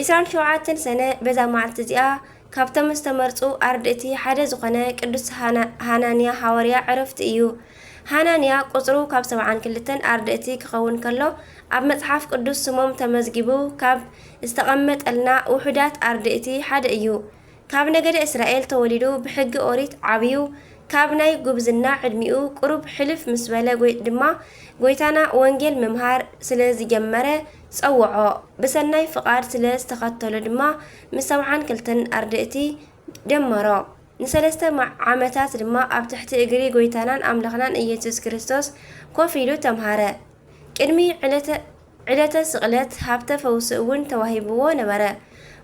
ዕስራን ሸውዓተን ሰነ በዛ መዓልቲ እዚኣ ካብቶም ዝተመርጹ ኣርድእቲ ሓደ ዝኾነ ቅዱስ ሃናንያ ሃዋርያ ዕረፍቱ እዩ። ሃናንያ ቁጽሩ ካብ ሰብዓን ክልተን ኣርድእቲ ክኸውን ከሎ ኣብ መጽሓፍ ቅዱስ ስሞም ተመዝጊቡ ካብ ዝተቐመጠልና ውሑዳት ኣርድእቲ ሓደ እዩ። ካብ ነገደ እስራኤል ተወሊዱ ብሕጊ ኦሪት ዓብዩ ካብ ናይ ጉብዝና ዕድሚኡ ቁሩብ ሕልፍ ምስ በለ ጎይጥ ድማ ጎይታና ወንጌል ምምሃር ስለ ዝጀመረ ጸውዖ ብሰናይ ፍቃድ ስለ ዝተኸተሎ ድማ ምስ ሰብዓን ክልተን ኣርድእቲ ደመሮ ንሰለስተ ዓመታት ድማ ኣብ ትሕቲ እግሪ ጎይታናን ኣምላኽናን ኢየሱስ ክርስቶስ ኮፍ ኢሉ ተምሃረ ቅድሚ ዕለተ ዕለተ ስቕለት ሃብተ ፈውሲ እውን ተዋሂብዎ ነበረ።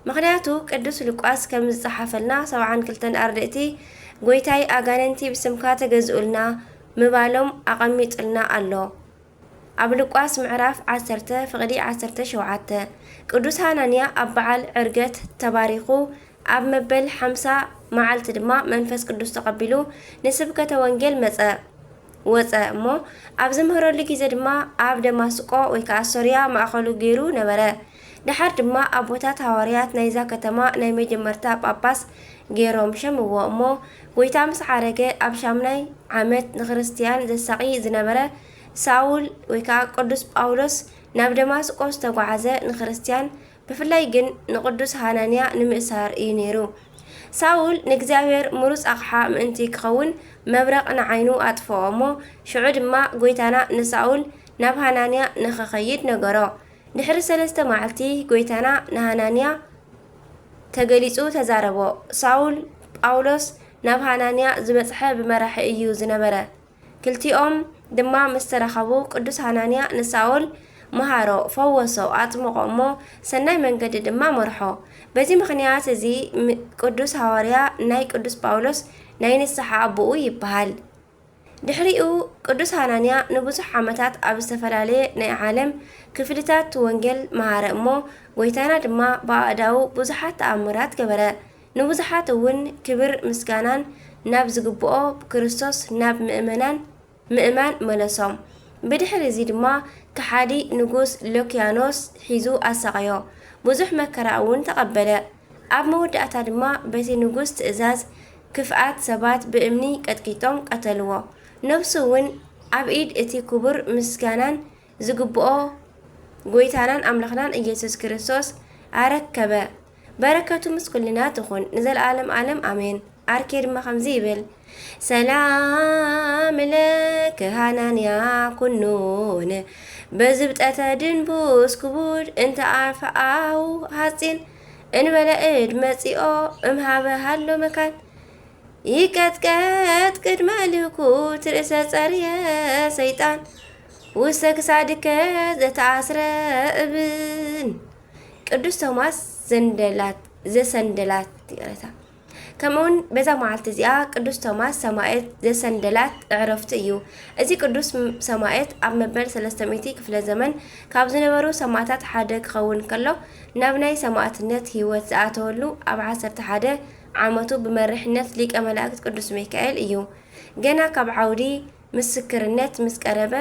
ምኽንያቱ ቅዱስ ሉቃስ ከም ዝጸሓፈልና ሰብዓን ክልተን ኣርድእቲ ጐይታይ ኣጋንንቲ ብስምካ ተገዝኡልና ምባሎም ኣቐሚጡልና ኣሎ። ኣብ ሉቃስ ምዕራፍ ዓሰርተ ፍቕዲ ዓሰርተ ሸውዓተ ቅዱስ ሃናንያ ኣብ በዓል ዕርገት ተባሪኹ ኣብ መበል ሓምሳ መዓልቲ ድማ መንፈስ ቅዱስ ተቐቢሉ ንስብከተ ወንጌል መጸ። ወጸ እሞ ኣብ ዝምህረሉ ግዜ ድማ ኣብ ደማስቆ ወይ ከኣ ሶርያ ማእከሉ ገይሩ ነበረ። ደሓር ድማ ኣቦታት ሃዋርያት ናይዛ ከተማ ናይ መጀመርታ ጳጳስ ገይሮም ሸምዎ እሞ ጐይታ ምስ ዓረገ ኣብ ሻምናይ ዓመት ንክርስትያን ዘሳቒ ዝነበረ ሳውል ወይ ከኣ ቅዱስ ጳውሎስ ናብ ደማስቆ ዝተጓዕዘ ንክርስትያን ብፍላይ ግን ንቕዱስ ሃናንያ ንምእሳር እዩ ነይሩ። ሳውል ንእግዚኣብሔር ምሩጽ ኣቕሓ ምእንቲ ክኸውን መብረቕ ንዓይኑ ኣጥፍኦ እሞ ሽዑ ድማ ጐይታና ንሳውል ናብ ሃናንያ ንኽኸይድ ነገሮ። ድሕሪ ሰለስተ መዓልቲ ጐይታና ንሃናንያ ተገሊጹ ተዛረቦ። ሳውል ጳውሎስ ናብ ሃናንያ ዝበጽሐ ብመራሒ እዩ ዝነበረ። ክልቲኦም ድማ ምስ ተራኸቡ፣ ቅዱስ ሃናንያ ንሳውል መሃሮ፣ ፈወሶ፣ ኣጥምቖ እሞ ሰናይ መንገዲ ድማ መርሖ። በዚ ምኽንያት እዚ ቅዱስ ሃዋርያ ናይ ቅዱስ ጳውሎስ ናይ ንስሓ ኣቦኡ ይበሃል። ድሕሪኡ ቅዱስ ሃናንያ ንብዙሕ ዓመታት ኣብ ዝተፈላለየ ናይ ዓለም ክፍልታት ወንጌል መሃረ እሞ ጐይታና ድማ ብኣእዳዉ ብዙሓት ተኣምራት ገበረ። ንብዙሓት እውን ክብር ምስጋናን ናብ ዝግብኦ ብክርስቶስ ናብ ምእመናን ምእማን መለሶም። ብድሕሪ እዚ ድማ ከሓዲ ንጉስ ሎክያኖስ ሒዙ ኣሳቐዮ፣ ብዙሕ መከራ እውን ተቐበለ። ኣብ መወዳእታ ድማ በቲ ንጉስ ትእዛዝ ክፍኣት ሰባት ብእምኒ ቀጥቂጦም ቀተልዎ፣ ነፍሱ እውን ኣብ ኢድ እቲ ክቡር ምስጋናን ዝግብኦ ጎይታናን ኣምላኽናን ኢየሱስ ክርስቶስ ኣረከበ። በረከቱ ምስ ኩልና ትኹን ንዘለዓለም ዓለም ኣሜን። ኣርኬ ድማ ከምዚ ይብል ሰላም ለክ ሃናንያ ኩኑን በዝብጠተ ድንቡስ ክቡድ እንተ ኣፈኣው ሃፂን እንበለ እድ መፂኦ እምሃበ ሃሎ መካን ይቀጥቀጥ ቅድመ ልኩት ርእሰ ጸርየ ሰይጣን ውስተ ክሳድከ ዘተኣስረ እብን ቅዱስ ቶማስ ዘንደላት ዘሰንደላት ይቅረታ ከምኡውን በዛ መዓልቲ እዚኣ ቅዱስ ቶማስ ሰማየት ዘሰንደላት ዕረፍቱ እዩ እዚ ቅዱስ ሰማየት ኣብ መበል 300 ክፍለ ዘመን ካብ ዝነበሩ ሰማእታት ሓደ ክኸውን ከሎ ናብ ናይ ሰማእትነት ህይወት ዝኣተወሉ ኣብ 11 ዓመቱ ብመርሕነት ሊቀ መላእክት ቅዱስ ሚካኤል እዩ ገና ካብ ዓውዲ ምስክርነት ምስ ቀረበ፣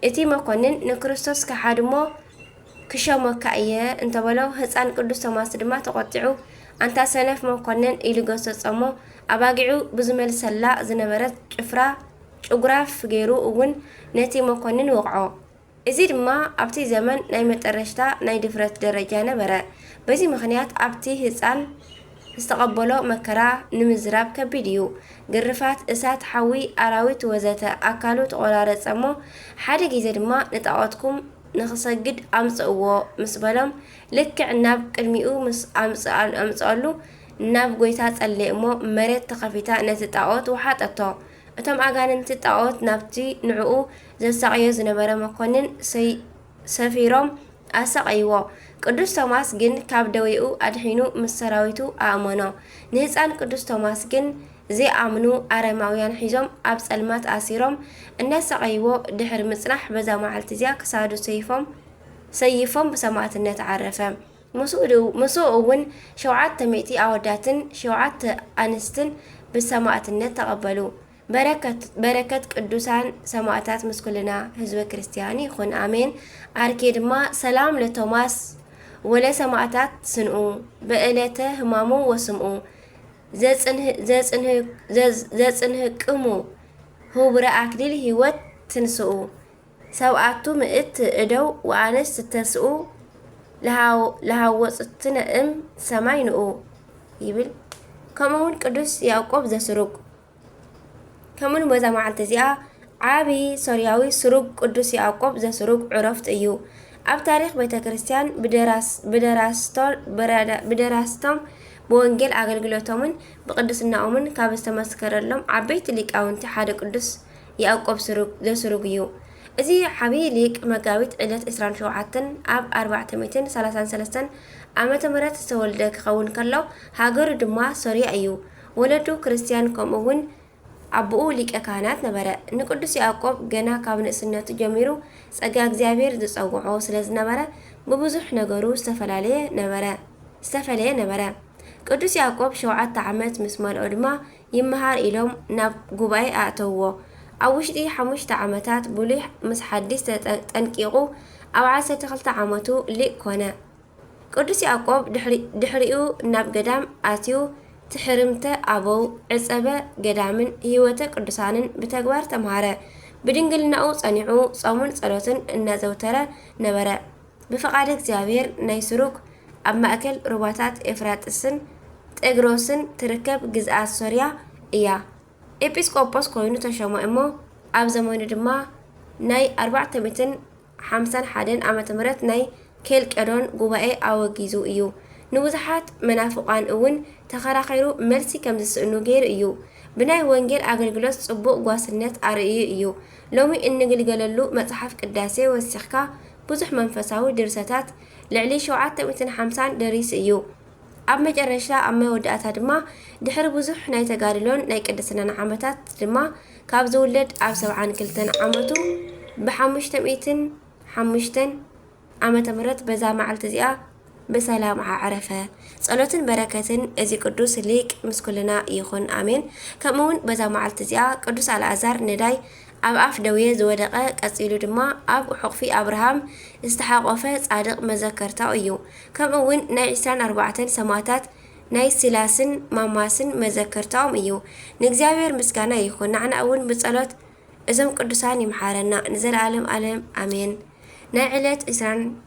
እቲ መኰንን ንክርስቶስ ክሓድ እሞ ክሸሞካ እየ እንተ በሎ፣ ህጻን ቅዱስ ቶማስ ድማ ተቖጢዑ፣ ኣንታ ሰነፍ መኰንን ኢሉ ገሰጾ እሞ፣ ኣባጊዑ ብዝመልሰላ ዝነበረት ጭፍራ ጭጉራፍ ገይሩ እውን ነቲ መኰንን ወቕዖ። እዚ ድማ ኣብቲ ዘመን ናይ መጠረሽታ ናይ ድፍረት ደረጃ ነበረ። በዚ ምኽንያት ኣብቲ ህጻን ዝተቐበሎ መከራ ንምዝራብ ከቢድ እዩ። ግርፋት፣ እሳት፣ ሓዊ፣ ኣራዊት ወዘተ ኣካሉ ተቖራረጸ እሞ ሓደ ግዜ ድማ ንጣዖትኩም ንኽሰግድ ኣምጽእዎ ምስ በሎም ልክዕ ናብ ቅድሚኡ ምስ ኣምጽኣሉ ናብ ጎይታ ጸለየ እሞ መሬት ተኸፊታ ነቲ ጣዖት ወሓጠቶ። እቶም ኣጋንንቲ ጣኦት ናብቲ ንዕኡ ዘሳቕዮ ዝነበረ መኮንን ሰፊሮም ኣሳቐይዎ። ቅዱስ ቶማስ ግን ካብ ደዌኡ ኣድሒኑ ምስ ሰራዊቱ ኣእመኖ። ንህጻን ቅዱስ ቶማስ ግን ዘይኣምኑ ኣረማውያን ሒዞም ኣብ ጸልማት ኣሲሮም እናሳቐይዎ ድሕሪ ምጽናሕ በዛ መዓልቲ እዚኣ ክሳዱ ሰይፎም ሰይፎም ብሰማእትነት ዓረፈ። ምስኡ እውን ሸውዓተ ሚእቲ ኣወዳትን ሸውዓተ ኣንስትን ብሰማእትነት ተቐበሉ። በረከት ቅዱሳን ሰማእታት ምስ ኩልና ህዝበ ክርስቲያን ይኹን ኣሜን። ኣርኬ ድማ ሰላም ለቶማስ ወለ ሰማእታት ስንኡ በእለተ ህማሙ ወስምኡ ዘጽንህቅሙ ህቡረ ኣክሊል ህይወት ትንስኡ ሰብኣቱ ምእት እደው ወኣንስት ተስኡ ለሃወጹትነ እም ሰማይ ንኡ ይብል። ከምኡውን ቅዱስ ያዕቆብ ዘስሩግ ከምኡን በዛ መዓልቲ እዚኣ ዓቢ ሶርያዊ ስሩግ ቅዱስ ያዕቆብ ዘስሩግ ዕረፍት እዩ። ኣብ ታሪኽ ቤተ ክርስቲያን ብደራስቶም ብወንጌል ኣገልግሎቶምን ብቅድስናኦምን ካብ ዝተመስከረሎም ዓበይቲ ሊቃውንቲ ሓደ ቅዱስ ያእቆብ ስሩግ ዘስሩግ እዩ። እዚ ዓብዪ ሊቅ መጋቢት ዕለት ዕስራን ሸውዓተን ኣብ ኣርባዕተ ሚእትን ሰላሳን ሰለስተን ዓመተ ምህረት ዝተወልደ ክኸውን ከሎ ሃገሩ ድማ ሶርያ እዩ። ወለዱ ክርስትያን ከምኡ እውን ኣቦኡ ሊቀ ካህናት ነበረ። ንቅዱስ ያእቆብ ገና ካብ ንእስነቱ ጀሚሩ ጸጋ እግዚኣብሔር ዝጸውዖ ስለ ዝነበረ ብብዙሕ ነገሩ ዝተፈላለየ ነበረ ዝተፈለየ ነበረ። ቅዱስ ያእቆብ ሸውዓተ ዓመት ምስ መልኦ ድማ ይመሃር ኢሎም ናብ ጉባኤ ኣእተውዎ። ኣብ ውሽጢ ሓሙሽተ ዓመታት ብሉይ ምስ ሓዲስ ተጠንቂቑ ኣብ ዓሰርተ ክልተ ዓመቱ ሊቅ ኮነ። ቅዱስ ያዕቆብ ድሕሪኡ ናብ ገዳም ኣትዩ ትሕርምተ ኣበው፣ ዕጸበ ገዳምን ሕይወተ ቅዱሳንን ብተግባር ተምሃረ። ብድንግልናኡ ጸኒዑ ጾምን ጸሎትን እናዘውተረ ነበረ። ብፍቓድ እግዚኣብሔር ናይ ሱሩግ ኣብ ማእከል ሩባታት ኤፍራጥስን ጤግሮስን ትርከብ ግዝኣት ሶርያ እያ ኤጲስ ቆጶስ ኮይኑ ተሾመ እሞ ኣብ ዘመኑ ድማ ናይ ኣርባዕተ ሚእትን ሓምሳን ሓደን ዓመተ ምህረት ናይ ኬልቄዶን ጉባኤ ኣወጊዙ እዩ ንብዙሓት መናፍቋን እውን ተኸራኺሩ መልሲ ከም ዝስእኑ ገይሩ እዩ ብናይ ወንጌል ኣገልግሎት ጽቡቕ ጓስነት ኣርእዩ እዩ ሎሚ እንግልገለሉ መጽሓፍ ቅዳሴ ወሲኽካ ብዙሕ መንፈሳዊ ድርሰታት፣ ልዕሊ ሸውዓተ ሚእትን ሓምሳን፣ ደሪሱ እዩ። ኣብ መጨረሻ ኣብ መወዳእታ ድማ ድሕሪ ብዙሕ ናይ ተጋድሎን ናይ ቅድስናን ዓመታት ድማ ካብ ዝውለድ ኣብ ሰብዓን ክልተን ዓመቱ ብሓሙሽተ ሚእትን ሓሙሽተን ዓመተ ምህረት በዛ መዓልቲ እዚኣ ብሰላም ዓዕረፈ ጸሎትን በረከትን እዚ ቅዱስ ሊቅ ምስ ኩልና ይኩን ኣሜን ከምኡ ውን በዛ መዓልቲ እዚኣ ቅዱስ ኣልኣዛር ነዳይ ኣብ ኣፍ ደዌ ዝወደቀ ቀጺሉ ድማ ኣብ ሑቅፊ ኣብርሃም ዝተሓቆፈ ጻድቅ መዘከርታኡ እዩ ከምኡ ውን ናይ ዕስራን ኣርባዕተን ሰማእታት ናይ ሲላስን ማማስን መዘከርታኦም እዩ ንእግዚኣብሔር ምስጋና ይኩን ናዕና ውን ብጸሎት እዞም ቅዱሳን ይምሓረና ንዘልኣለም ኣለም ኣሜን ናይ ዕለት ዕስራን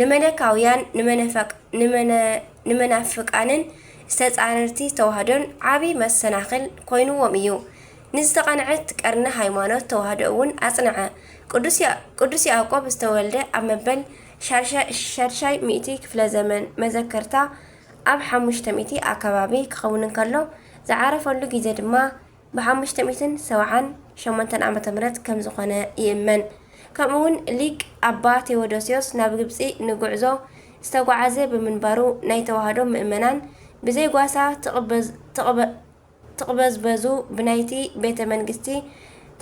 ንመለካውያን ንመናፍቃንን ዝተጻረርቲ ተዋህዶን ዓቢ መሰናኽል ኮይኑዎም እዩ። ንዝተቐንዐት ቀርኒ ሃይማኖት ተዋህዶ እውን ኣጽንዐ። ቅዱስ ያዕቆብ ዝተወልደ ኣብ መበል ሻድሻይ ሚእቲ ክፍለ ዘመን መዘከርታ ኣብ ሓሙሽተ ሚእቲ ኣከባቢ ክኸውን እንከሎ ዝዓረፈሉ ግዜ ድማ ብሓሙሽተ ሚእትን ሰብዓን ሸሞንተን ዓመተ ምህረት ከም ዝኾነ ይእመን። ከምኡ ውን ሊቅ ኣባ ቴዎዶስዮስ ናብ ግብጺ ንጉዕዞ ዝተጓዓዘ ብምንባሩ ናይ ተዋህዶ ምእመናን ብዘይ ጓሳ ትቕበዝበዙ ብናይቲ ቤተ መንግስቲ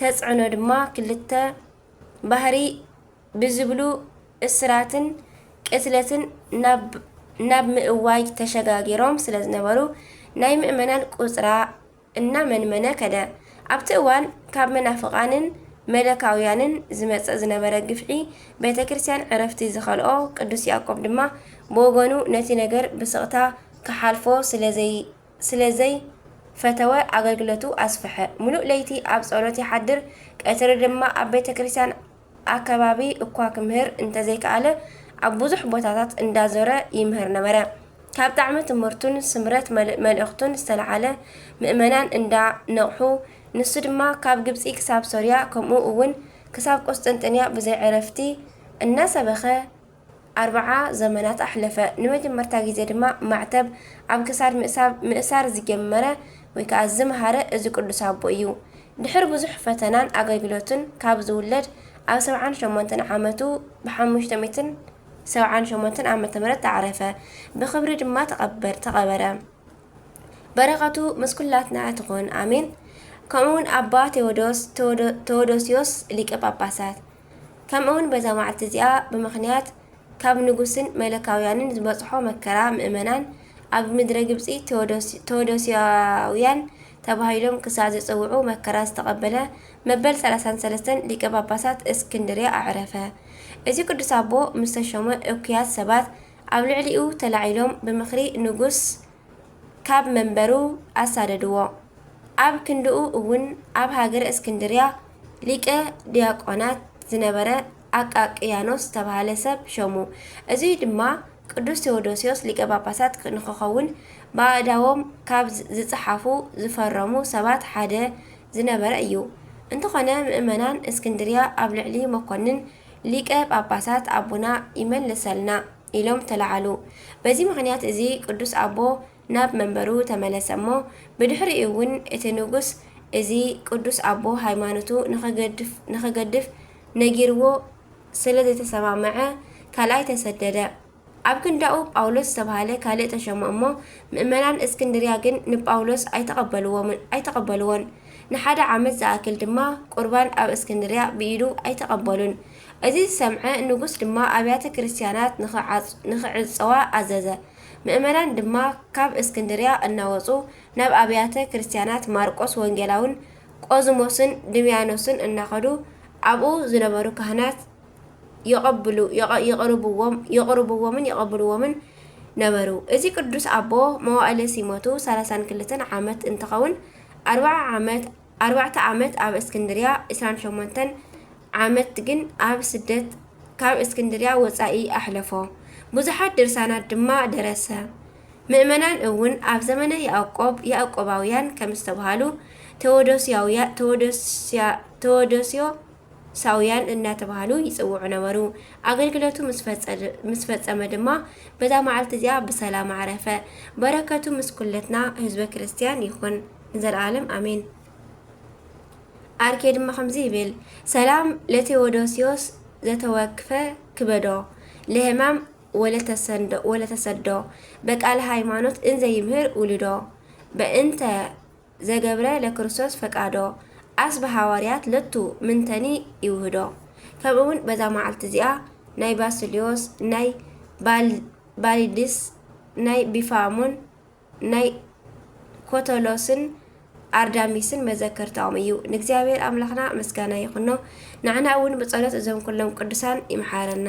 ተጽዕኖ ድማ ክልተ ባህሪ ብዝብሉ እስራትን ቅትለትን ናብ ምእዋጅ ተሸጋጊሮም ስለዝነበሩ ናይ ምእመናን ቁጽራ እናመንመነ ከደ። ኣብቲ እዋን ካብ መናፍቓንን መለካውያንን ዝመጽእ ዝነበረ ግፍዒ ቤተ ክርስቲያን ዕረፍቲ ዝኸልኦ ቅዱስ ያዕቆብ ድማ ብወገኑ ነቲ ነገር ብስቕታ ክሓልፎ ስለ ዘይፈተወ ኣገልግሎቱ ኣስፍሐ። ምሉእ ለይቲ ኣብ ጸሎት ይሓድር ቀትሪ ድማ ኣብ ቤተ ክርስቲያን ኣከባቢ እኳ ክምህር እንተዘይከኣለ ኣብ ብዙሕ ቦታታት እንዳዞረ ይምህር ነበረ። ካብ ጣዕሚ ትምህርቱን ስምረት መልእ መልእኽቱን ዝተለዓለ ምእመናን እንዳ ነቕሑ ንሱ ድማ ካብ ግብጺ ክሳብ ሶርያ ከምኡ እውን ክሳብ ቁስጥንጥንያ ብዘይዕረፍቲ እናሰበኸ ኣርብዓ ዘመናት ኣሕለፈ። ንመጀመርታ ግዜ ድማ ማዕተብ ኣብ ክሳድ ምእሳብ ምእሳር ዝጀመረ ወይ ከኣ ዝመሃረ እዚ ቅዱስ ኣቦ እዩ። ድሕሪ ብዙሕ ፈተናን ኣገልግሎትን ካብ ዝውለድ ኣብ ሰብዓን ሸሞንተን ዓመቱ ብሓሙሽተ ሚእትን ሰብዓን ሸሞንተን ዓመተ ምህረት ኣዕረፈ። ብኽብሪ ድማ ተቐበር ተቐበረ። በረኸቱ ምስ ኩላትና ትኹን ኣሜን። ከምኡውን ኣባ ቴዎዶስ፣ ተወዶ፣ ተዎዶስዮስ ሊቀ ጳጳሳት፣ ከምኡውን በዛ መዓልቲ እዚኣ ብምኽንያት ካብ ንጉስን መለካውያንን ዝበጽሖ መከራ ምእመናን ኣብ ምድረ ግብጺ ቴዎዶስያውያን ተባሂሎም ክሳዕ ዝጽውዑ መከራ ዝተቐበለ መበል 33 ሊቀ ጳጳሳት እስክንድርያ ኣዕረፈ። እዚ ቅዱስ ኣቦ ምስ ተሾመ እኩያት ሰባት ኣብ ልዕሊኡ ተላዒሎም ብምኽሪ ንጉስ ካብ መንበሩ ኣሳደድዎ። ኣብ ክንድኡ እውን ኣብ ሃገረ እስክንድርያ ሊቀ ዲያቆናት ዝነበረ ኣቃቅያኖስ ዝተባህለ ሰብ ሾሙ። እዙይ ድማ ቅዱስ ቴዎዶስዮስ ሊቀ ጳጳሳት ንክኸውን ብኣእዳዎም ካብ ዝጸሓፉ ዝፈረሙ ሰባት ሓደ ዝነበረ እዩ። እንተኾነ ምእመናን እስክንድርያ ኣብ ልዕሊ መኮንን ሊቀ ጳጳሳት ኣቡና ይመልሰልና! ኢሎም ተለዓሉ። በዚ ምኽንያት እዚ ቅዱስ ኣቦ ናብ መንበሩ ተመለሰ እሞ ብድሕሪኡ እውን እቲ ንጉሥ እዚ ቅዱስ ኣቦ ሃይማኖቱ ንኸገድፍ ነጊርዎ ስለ ዘይተሰማምዐ ካልኣይ ተሰደደ። ኣብ ክንዳኡ ጳውሎስ ዝተብሃለ ካልእ ተሾመ እሞ ምእመናን እስክንድርያ ግን ንጳውሎስ ኣይተቐበልዎን። ንሓደ ዓመት ዝኣክል ድማ ቍርባን ኣብ እስክንድርያ ብኢዱ ኣይተቐበሉን። እዚ ዝሰምዐ ንጉስ ድማ ኣብያተ ክርስትያናት ንኽዕጸዋ ኣዘዘ። ምእመናን ድማ ካብ እስክንድርያ እናወጹ ናብ ኣብያተ ክርስትያናት ማርቆስ ወንጌላውን ቆዝሞስን ድምያኖስን እናኸዱ ኣብኡ ዝነበሩ ካህናት የቕርብዎምን ይቕብልዎምን ነበሩ። እዚ ቅዱስ ኣቦ መዋእለ ሲሞቱ ሠላሳን ክልተን ዓመት እንትኸውን ኣርብዓ ዓመት ኣርባዕተ ዓመት ኣብ እስክንድርያ ዕስራን ሸሞንተን ዓመት ግን ኣብ ስደት ካብ እስክንድርያ ወጻኢ ኣሕለፎ። ብዙሓት ድርሳናት ድማ ደረሰ። ምእመናን እውን ኣብ ዘመነ ያእቆብ ያእቆባውያን ከም ዝተብሃሉ፣ ተዎዶስያውያ ተዎዶስያ ተዎዶስዮ ሳውያን እናተባህሉ ይጽውዑ ነበሩ። ኣገልግሎቱ ምስ ፈጸመ ድማ በዛ መዓልቲ እዚኣ ብሰላም ዓረፈ። በረከቱ ምስ ኩለትና ህዝበ ክርስትያን ይኹን ንዘለዓለም ኣሜን። ኣርኬ ድማ ከምዚ ይብል ሰላም ለቴዎዶሲዮስ ዘተወክፈ ክበዶ ለህማም ወለተሰዶ በቃለ ሃይማኖት እንዘ ይምህር ውልዶ በእንተ ዘገብረ ለክርስቶስ ፈቃዶ፣ ኣስ ብሃዋርያት ለቱ ምንተኒ ይውህዶ። ከምኡውን በዛ መዓልቲ እዚኣ ናይ ባስልዮስ፣ ናይ ባልዲስ፣ ናይ ቢፋሞን፣ ናይ ኮተሎስን ኣርዳሚስን መዘከርታኦም እዩ። ንእግዚኣብሔር ኣምላኽና ምስጋና ይኹኖ፣ ንዓና እውን ብጸሎት እዞም ኩሎም ቅዱሳን ይምሓረና።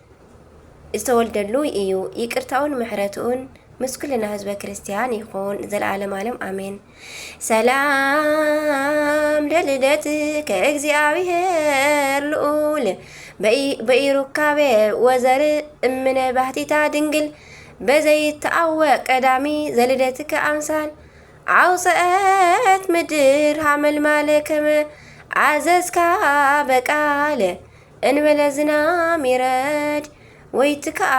ዝተወልደሉ እዩ ይቅርታኡን ምሕረትኡን ምስ ኩልና ህዝበ ክርስቲያን ይኹን ዘለዓለም ዓለም ኣሜን። ሰላም ለልደትከ እግዚኣብሔር ልዑል በኢሩካቤ ወዘር እምነ ባህቲታ ድንግል በዘይተኣወቅ ቀዳሚ ዘልደትከ ኣምሳል ኣውፅአት ምድር ሃመልማለ ከመ ኣዘዝካ በቃለ እንበለ ዝናም ይረድ ወይ ትከኣ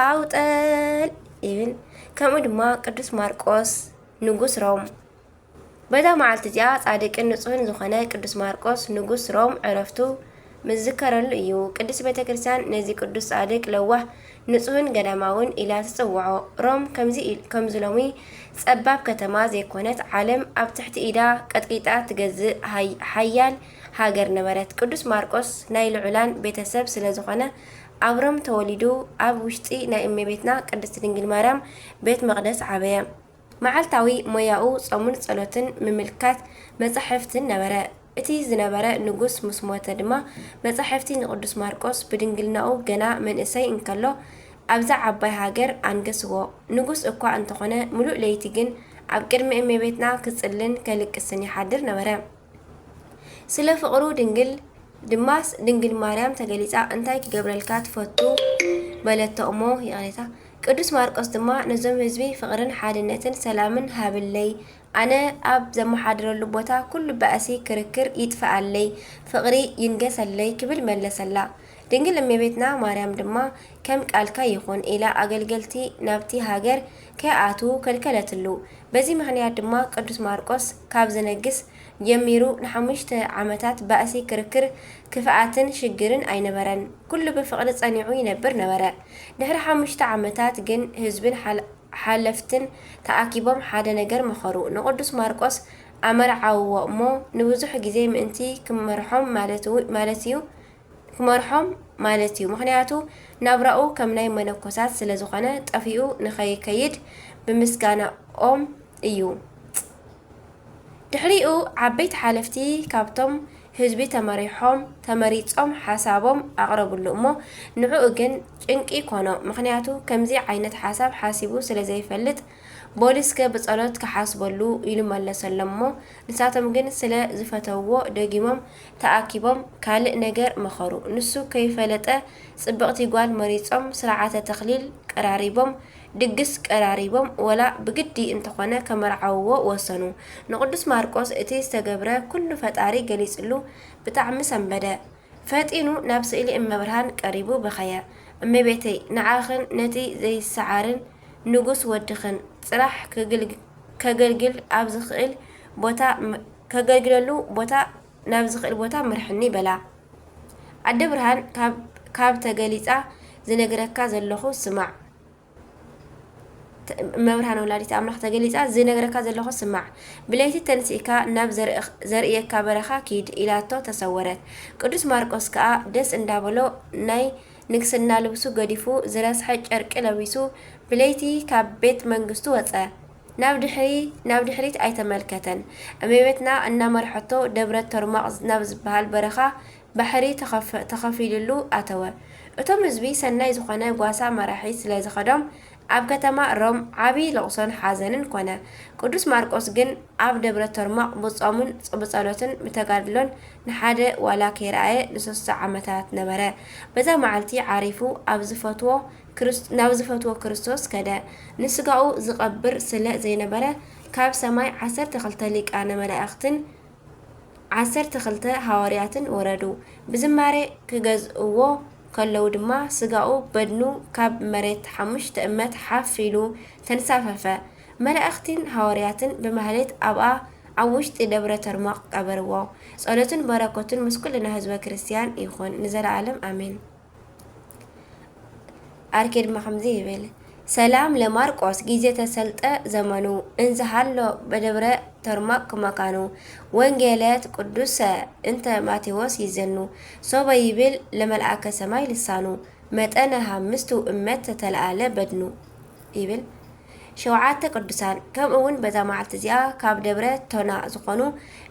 ኣውጠል ይብል። ከምኡ ድማ ቅዱስ ማርቆስ ንጉስ ሮም በዛ መዓልቲ እዚኣ ጻድቅን ንጹህን ዝኾነ ቅዱስ ማርቆስ ንጉስ ሮም ዕረፍቱ ምዝከረሉ እዩ። ቅዱስ ቤተ ክርስቲያን ነዚ ቅዱስ ጻድቅ ለዋህ ንጹህን ገዳማውን ኢላ ትጽውዖ። ሮም ከምዚ ከምዚ ሎሚ ጸባብ ከተማ ዘይኮነት ዓለም ኣብ ትሕቲ ኢዳ ቀጥቂጣ ትገዝእ ሓያል ሃገር ነበረት። ቅዱስ ማርቆስ ናይ ልዑላን ቤተ ሰብ ስለ ዝኾነ ኣብ ሮም ተወሊዱ ኣብ ውሽጢ ናይ እመቤትና ቅድስት ድንግል ማርያም ቤት መቅደስ ዓበየ። መዓልታዊ ሞያኡ ጾምን ጸሎትን ምምልካት መጻሕፍትን ነበረ። እቲ ዝነበረ ንጉስ ምስ ሞተ ድማ መጻሕፍቲ ንቅዱስ ማርቆስ ብድንግልናኡ ገና መንእሰይ እንከሎ ኣብዛ ዓባይ ሃገር ኣንገስዎ። ንጉስ እኳ እንተኾነ ምሉእ ለይቲ ግን ኣብ ቅድሚ እመቤትና ክጽልን ከልቅስን ይሓድር ነበረ። ስለ ፍቕሩ ድንግል ድማ ድንግል ማርያም ተገሊጻ እንታይ ክገብረልካ ትፈቱ በለቶ እሞ ይቕሬታ ቅዱስ ማርቆስ ድማ ነዞም ህዝቢ ፍቕርን ሓድነትን ሰላምን ሃብለይ ኣነ ኣብ ዘመሓድረሉ ቦታ ኩሉ ባእሲ ክርክር ይጥፍኣለይ ፍቕሪ ይንገሰለይ ክብል መለሰላ ድንግል እመቤትና ማርያም ድማ ከም ቃልካ ይኹን ኢላ ኣገልገልቲ ናብቲ ሃገር ከይኣትዉ ከልከለትሉ። በዚ ምኽንያት ድማ ቅዱስ ማርቆስ ካብ ዝነግስ ጀሚሩ ንሓሙሽተ ዓመታት ባእሲ ክርክር ክፍኣትን ሽግርን ኣይነበረን። ኩሉ ብፍቕሪ ጸኒዑ ይነብር ነበረ። ድሕሪ ሓሙሽተ ዓመታት ግን ህዝብን ሓለፍትን ተኣኪቦም ሓደ ነገር መኸሩ። ንቅዱስ ማርቆስ ኣመርዓውዎ እሞ ንብዙሕ ግዜ ምእንቲ ክመርሖም ማለት'ዩ ክመርሖም ማለት እዩ ምኽንያቱ ናብራኡ ከም ናይ መነኮሳት ስለ ዝኾነ ጠፊኡ ንኸይከይድ ብምስጋናኦም እዩ ጽ ድሕሪኡ ዓበይቲ ሓለፍቲ ካብቶም ህዝቢ ተመሪሖም ተመሪጾም ሓሳቦም ኣቕረብሉ እሞ ንዕኡ ግን ጭንቂ ኮኖ ምኽንያቱ ከምዚ ዓይነት ሓሳብ ሓሲቡ ስለ ዘይፈልጥ ቦሊስከ ብጸሎት ክሓስበሉ ኢሉ መለሰሎም እሞ ንሳቶም ግን ስለ ዝፈተውዎ ደጊሞም ተኣኪቦም ካልእ ነገር መኸሩ ንሱ ከይፈለጠ ጽብቕቲ ጓል መሪጾም ስርዓተ ተኽሊል ቀራሪቦም ድግስ ቀራሪቦም ወላ ብግዲ እንተኾነ ከመርዓውዎ ወሰኑ ንቅዱስ ማርቆስ እቲ ዝተገብረ ኩሉ ፈጣሪ ገሊጽሉ ብጣዕሚ ሰንበደ ፈጢኑ ናብ ስእሊ እመብርሃን ቀሪቡ በኸየ እመቤተይ ንዓኽን ነቲ ዘይሰዓርን ንጉስ ወድኽን ጽራሕ ከገልግል ኣብ ዝኽእል ቦታ ከገልግለሉ ቦታ ናብ ዝኽእል ቦታ ምርሕኒ በላ። ኣደ ብርሃን ካብ ተገሊጻ ዝነግረካ ዘለኹ ስማዕ እመብርሃን ወላዲት ኣምላኽ ተገሊጻ ዝነግረካ ዘለኹ ስማዕ ብለይቲ ተንሲእካ ናብ ዘርእየካ በረኻ ኪድ ኢላቶ ተሰወረት። ቅዱስ ማርቆስ ከኣ ደስ እንዳበሎ ናይ ንግስና ልብሱ ገዲፉ ዝረስሐ ጨርቂ ለቢሱ ብለይቲ ካብ ቤት መንግስቱ ወጸ። ናብ ድሕሪ ናብ ድሕሪት ኣይተመልከተን። እመቤትና እናመርሐቶ ደብረ ቶርማቅ ናብ ዝበሃል በረኻ ባሕሪ ተኸፊሉሉ ኣተወ። እቶም ህዝቢ ሰናይ ዝኾነ ጓሳ መራሒ ስለ ዝኸዶም ኣብ ከተማ ሮም ዓብይ ለቕሶን ሓዘንን ኮነ። ቅዱስ ማርቆስ ግን ኣብ ደብረ ቶርማቕ ብጾምን ብጸሎትን ብተጋድሎን ንሓደ ዋላ ከይረኣየ ንሰሱተ ዓመታት ነበረ። በዛ መዓልቲ ዓሪፉ ኣብ ዝፈትዎ ናብ ዝፈትዎ ክርስቶስ ከደ። ንስጋኡ ዝቐብር ስለ ዘይነበረ ካብ ሰማይ ዓሰርተ ክልተ ሊቃነ መላእኽትን ዓሰርተ ክልተ ሃዋርያትን ወረዱ፣ ብዝማሬ ኺገዝእዎ ኸለዉ ድማ፣ ስጋኡ በድኑ ኻብ መሬት ሓሙሽተ እመት ሓፍ ኢሉ ተንሳፈፈ፣ መላእኽቲን ሃዋርያትን ብማኅሌት ኣብኣ ኣብ ውሽጢ ደብረ ተርሞቅ ቀበርዎ። ጸሎቱን በረከቱን ምስ ኩልና ሕዝበ ክርስቲያን ይኹን ንዘለዓለም ኣሜን። ዓርኬ ድማ ከምዚ ይብል ሰላም ለማርቆስ ጊዜ ተሰልጠ ዘመኑ እንዘ ሃሎ በደብረ ተርማቅ መካኑ ወንጌለት ቅዱሰ እንተ ማቴዎስ ይዘኑ ሶበ ይብል ለመልአከ ሰማይ ልሳኑ መጠነ ሃምስቱ እመት ተተለአለ በድኑ ይብል ሸውዓተ ቅዱሳን ከምኡ ውን በዛ መዓልቲ እዚኣ ካብ ደብረ ቶና ዝኾኑ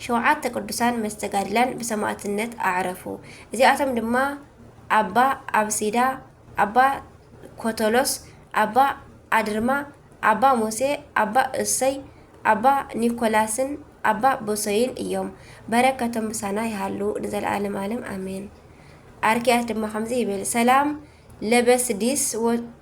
ሸውዓተ ቅዱሳን መስተጋድላን ብሰማእትነት ኣዕረፉ። እዚኣቶም ድማ ኣባ ኣብሲዳ፣ ኣባ ኮቶሎስ፣ ኣባ ኣድርማ፣ ኣባ ሙሴ፣ ኣባ እሰይ፣ ኣባ ኒኮላስን ኣባ ብሶይን እዮም። በረከቶም ምሳና ይሃሉ ንዘለዓለም ዓለም ኣሜን። ኣርኪያስ ድማ ከምዚ ይብል ሰላም ለበስዲስ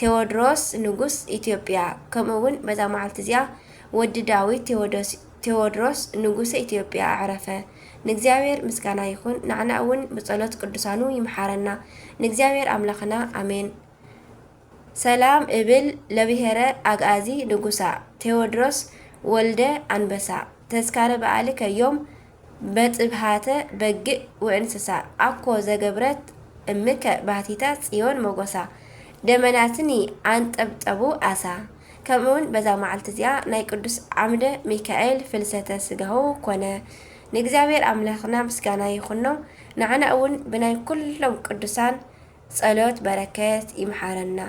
ቴዎድሮስ ንጉስ ኢትዮጵያ ከምኡ እውን በዛ መዓልቲ እዚኣ ወዲ ዳዊት ቴዎዶስ ቴዎድሮስ ንጉሰ ኢትዮጵያ ኣዕረፈ። ንእግዚኣብሔር ምስጋና ይኹን፣ ንዓና እውን ብጸሎት ቅዱሳኑ ይምሓረና። ንእግዚኣብሔር ኣምላኽና ኣሜን። ሰላም እብል ለብሔረ ኣግኣዚ ንጉሳ ቴዎድሮስ ወልደ ኣንበሳ ተስካረ በዓል ከዮም መጥብሃተ በግእ ወእንስሳ ኣኮ ዘገብረት እምከ ባህቲተ ጽዮን ሞጎሳ ደመናትኒ ኣንጠብጠቡ ኣሳ ከምእውን በዛ መዓልቲ እዚኣ ናይ ቅዱስ ዓምደ ሚካኤል ፍልሰተ ስጋሁ ኮነ ንእግዚኣብሔር ኣምላክና ምስጋና ይኩኖ ንዓና እውን ብናይ ኩሎም ቅዱሳን ጸሎት በረከት ይምሓረና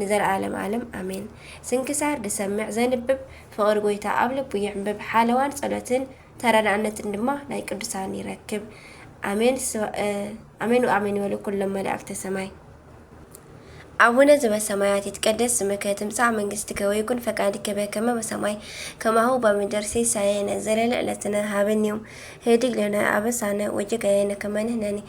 ንዘልኣለም ኣለም ኣሜን። ስንክሳር ዝሰምዕ ዘንብብ ፍቕሪ ጎይታ ኣብ ልቡ የዕምብብ ሓለዋን ጸሎትን ተረዳእነትን ድማ ናይ ቅዱሳን ይረክብ ኣሜን ኣሜን ኣሜን ይበሉ ኩሎም መላእክተ ሰማይ። ኣቡነ ዘበሰማያት ይትቀደስ ስምከ ትምጻእ መንግስትከ ወይኩን ፈቃድከ በከመ በሰማይ ከማሁ በምድር ሲሳየነ ዘለለ ዕለትነ ሀበነ ዮም ህድግ ለነ አበሳነ ወጌጋየነ ከመ ንሕነኒ